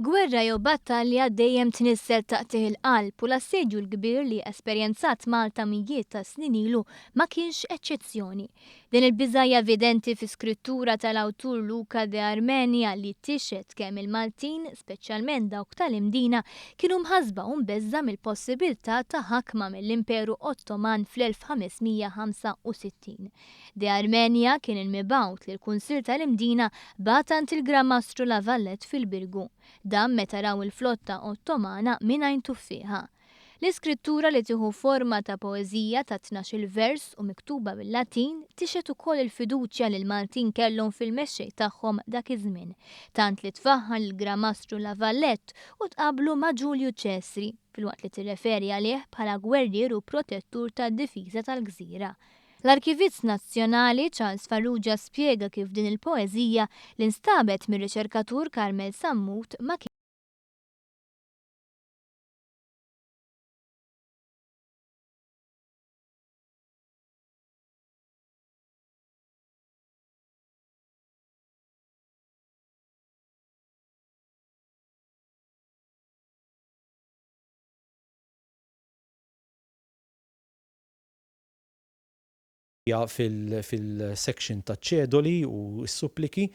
Gwerra jew battalja dejjem tniżżel taqtigħ il-qalb u l-assedju l-kbir li esperjenzat Malta mijiet ta' snin ilu ma kienx eċċezzjoni. Din il-biża' hija evidenti fi skrittura tal-awtur Luca de Armenia li tixhed kemm il-Maltin, speċjalment dawk tal-Imdina, kienu mħassba u mbeżża' mill-possibiltà ta' ħakma mill-Imperu Ottoman fl-1565. De Armenia kien il-mibgħut li l-Kunsill tal-Imdina bagħat għand il-Gran Mastru La Valette fil-Birgu. Dan meta raw il-flotta Ottomana minn għajn tuffieħa. L-iskrittura li tieħu forma ta' poeżija ta' tnax-il vers u miktuba bil-Latin tixhed ukoll il-fiduċja li l-Maltin kellhom fil-mexxej tagħhom dak iż-żmien, tant li tfaħħar lill-Gran Mastru La Valette u tqabblu ma' Ġulju Ċesri, filwaqt li tirreferi għalih bħala gwerrier u protettur tad-difiża tal-gżira. L-Arkivist Nazzjonali Charles Farrugia spjega kif din il-poeżija, li nstabet mir-riċerkatur Carmel Sammut, ma fil-section taċ-ċedoli u s-suppliki,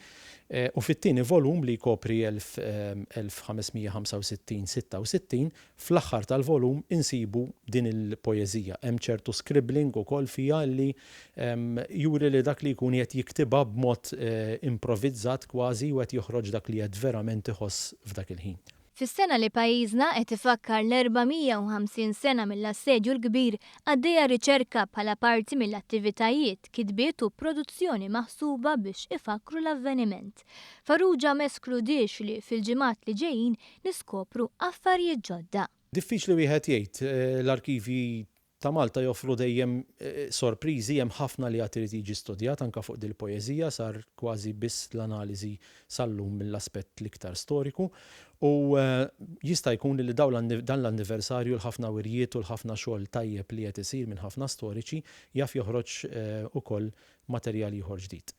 u fit-tieni volum li jkopri 1565-66, fl-aħħar tal-volum insibu din il-poeżija. Hemm ċertu scribbling ukoll fiha li juri li dak li jkun qiegħed jiktibha b'mod improvizzat kważi u qed joħroġ dak li qed verament iħoss f'dak il-ħin. Fis-sena li pajjiżna qed ifakkar l-450 sena mill-Assedju l-Kbir, għaddejja riċerka bħala parti mill-attivitajiet, kitbiet u produzzjoni maħsuba biex ifakkru l-avveniment. Farrugia ma eskludiex li fil-ġimgħat li ġejjin niskopru affarijiet ġodda. Diffiċli wieħed jgħid, l-arkivji ta' Malta joffru dejjem sorpriżi, hemm ħafna li għad irid jiġi studjat anke fuq dil-poeżija, sar kważi biss l-analiżi sal-lum mill-aspett l-iktar storiku, u jista' jkun li dan l-anniversarju l-ħafna wirjiet u l-ħafna xogħol tajjeb li qed isir minn ħafna storiċi jaf joħroġ ukoll materjal ieħor ġdid.